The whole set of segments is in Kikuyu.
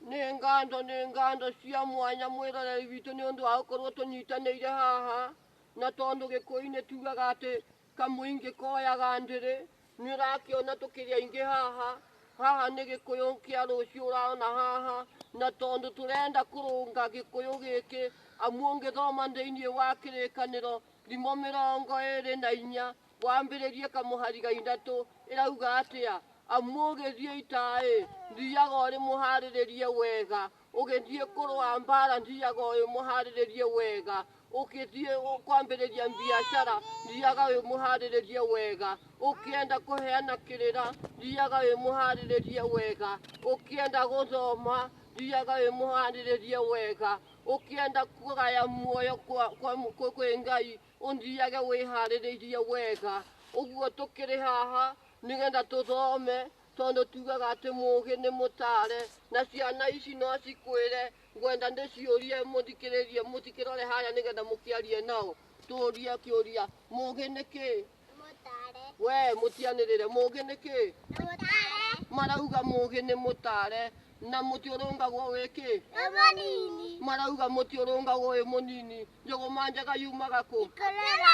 nĩ ngatho nĩ ngatho cia mwanya mwĩroreri witũ nĩ ũndũ wa gũkorwo tũnyitanĩire haha na tondũ gĩkũyũ-inĩ tugaga atĩ kamũingĩ koyaga ndĩrĩ nĩ ũrakĩona tũkĩrĩ aingĩ haha haha nĩ gĩkũyũ kĩa rũciũ ũraona haha na tondũ tũrenda kũrũnga gĩkũyũ gĩkĩ amu ũngĩthoma thĩinĩ wa kĩrĩkanĩro thimo mĩrongo ĩrĩ na inya Wambĩrĩrie kamũhari ga ithatũ ĩrauga atĩa? Amu ũgĩthiĩ itaĩ thiaga ũrĩ mũharĩrĩrie wega, ũgĩthiĩ kũrũa mbara thiaga ũrĩ mũharĩrĩrie wega, ũgĩthiĩ kwambĩrĩria biacara thiaga wĩ mũharĩrĩrie wega, ũkĩenda kũheana kĩrĩra thiaga wĩ mũharĩrĩrie wega, ũkĩenda gũthoma thiaga wĩ mũharĩrĩrie wega, ũkĩenda kũgaya muoyo kwa, kwa, kwa, kwĩ Ngai ũnjiage wĩharĩrĩirie wega ũguo tũkĩrĩ haha nĩgetha tũthome tondũ tugaga atĩ mũgĩ nĩ mũtare na ciana ici no cikwĩre ngwenda ndĩciũrie mũthikĩrĩrie mũtikĩrore harĩa nĩgetha mũkĩarie nao tũrie kĩũria mũgĩ nĩ kĩĩ Mũtare. we mũtianĩrĩre mũgĩ nĩ kĩĩ Mũtare. marauga mũgĩ nĩ mũtare na mũtĩ ũrũngagwo wĩ kĩ Nĩ mũnini. marauga mũtĩ ũrũngagwo wĩ mũnini njũgũma njega yumaga kũ Kũrera.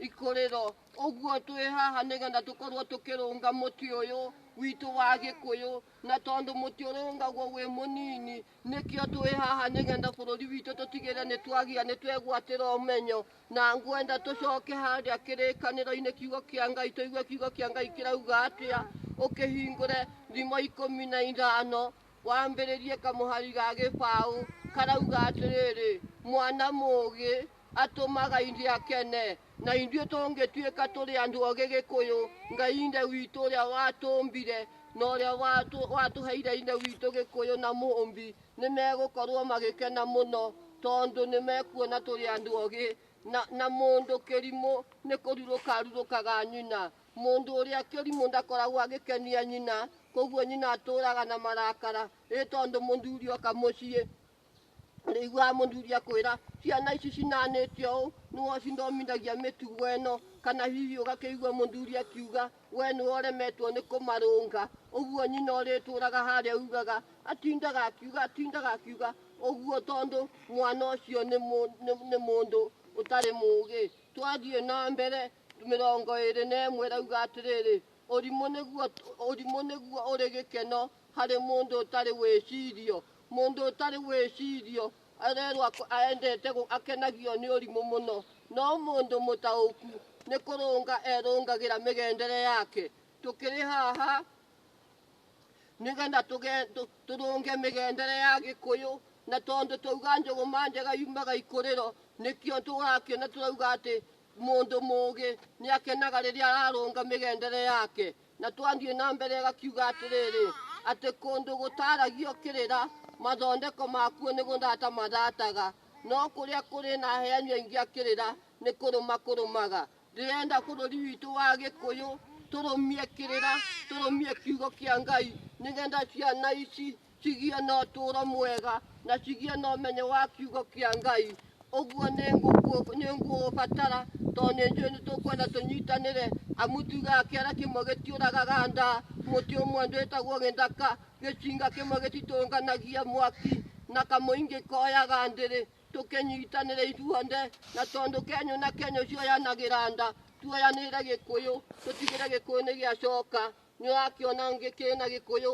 ikũrĩro ũguo twĩ haha nĩgetha tũkorwo tũkĩrũnga mũtĩ ũyũ witũ wa gĩkũyũ na tondũ mũtĩ ũrũngagwo wĩ mũnini nĩkĩo twĩ haha nĩgetha bũrũri witũ tũtigĩrĩre nĩ twagĩa nĩ twegwatĩra ũmenyo na ngwenda tũcoke harĩa kĩrĩkanĩro-inĩ kiugo kĩa ngai tũigue kiugo kĩa ngai kĩrauga atĩa ũkĩhingũre thimo ikũmi na ithano wambĩrĩrie kamũhari ga gĩbaũ karauga atĩrĩrĩ mwana mũũgĩ atũmaga ithe akene na ithuĩ tũngĩtuĩka tũrĩ andũ ogĩ gĩkũyũ ngai ithe witũ ũrĩa watũmbire na ũrĩa watũ- watũheire ithe witũ gĩkũyũ na mũmbi Nĩ megũkorũo magĩkena mũno tondũ nĩ mekuona tũrĩ andũ ogĩ, na, na mũndũ kĩrimũ nĩ kũrurũka arurũkaga nyina. Mũndũ ũrĩa kĩrimũ ndakoragwo agĩkenia nyina, koguo nyina atũũraga na marakara, ĩ tondũ mũthuri oka mũciĩ ũrĩiguaga mũthuri akwĩra ciana ici cinanĩte ũũ nĩwe ũcithomithagia mĩtugo ĩno, kana hihi ũgakĩigua mũthuri akiuga We nĩwe ũremetwo nĩ kũmarũnga. Ũguo nyina ũrĩtũũraga harĩa uugaga, atindaga akiuga, atindaga akiuga ũguo tondũ mwana ũcio nĩ mũ- nĩ- nĩ mũndũ ũtarĩ mũũgĩ. Twathiĩ na mbere mĩrongo ĩrĩ na ĩmwe ĩrauga atĩrĩrĩ, ũrimũ nĩguo ũrimũ nĩguo ũrĩ gĩkeno harĩ mũndũ ũtarĩ wĩcirio. Mũndũ ũtarĩ wĩcirio Arerwo ak- aendete gũ- akenagio nĩ ũrimũ mũno, no mũndũ mũtaũku nĩ kũrũnga erũngagĩra mĩgendere yake. Tũkĩrĩ haha nĩgetha tũge- tũ- tũrũnge mĩgendere ya gĩkũyũ na tondũ twauga njũgũma njega yumaga ikũrĩro nĩkĩo tũrakĩona tũrauga atĩ mũndũ mũgĩ nĩ akenaga rĩrĩa ararũnga mĩgendere yake Na twathiĩ na mbere ĩgakiuga atĩrĩrĩ, atĩ kũndũ gũtaaragio kĩrĩra, mathondeko makuo nĩ gũthata mathataga, no kũrĩa kũrĩ na aheani aingĩ a kĩrĩra nĩ kũrũma kũrũmaga. Ndĩrenda bũrũri witũ wa Gĩkũyũ tũrũmie kĩrĩra, tũrũmie kiugo kĩa Ngai, nĩgetha ciana ici Kĩgĩe na ũtũũro mwega, na kĩgĩe na ũmenyo wa kiugo kĩa Ngai. Ũguo nĩ ngũkũ- nĩ ngũũbatara, tondũ nĩ njũĩ nĩ tũkwenda tũnyitanĩre, amu tugaga kĩara kĩmwe gĩtiũragaga nda, mũtĩ ũmwe ndwĩtagwo gĩthaka, gĩcinga kĩmwe gĩtitũnganagia mwaki, na kamũingĩ koyaga ndĩrĩ. Tũkĩnyitanĩre ithuothe, na tondũ Kenya na Kenya ũcio ũyanagĩra nda, tuoyanĩrĩre Gĩkũyũ, tũtigĩre Gĩkũyũ nĩ gĩacoka. Nĩ ũrakĩona ngĩkĩrĩ na Gĩkũyũ,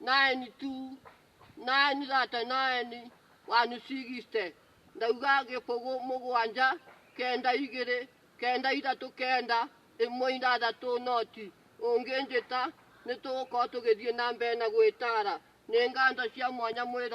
Naeni tu, naeni thate, naeni wanyu cigiste. Ndauga gĩbũgũ mũgwanja, kenda igĩrĩ, kenda ithatũ, kenda ĩmwe ithathatũ noti. Ũngĩnjĩta nĩ tũgũkorwo tũgĩthiĩ na mbere na gwĩtara. Nĩ nganjo cia mwanya mwĩrorere.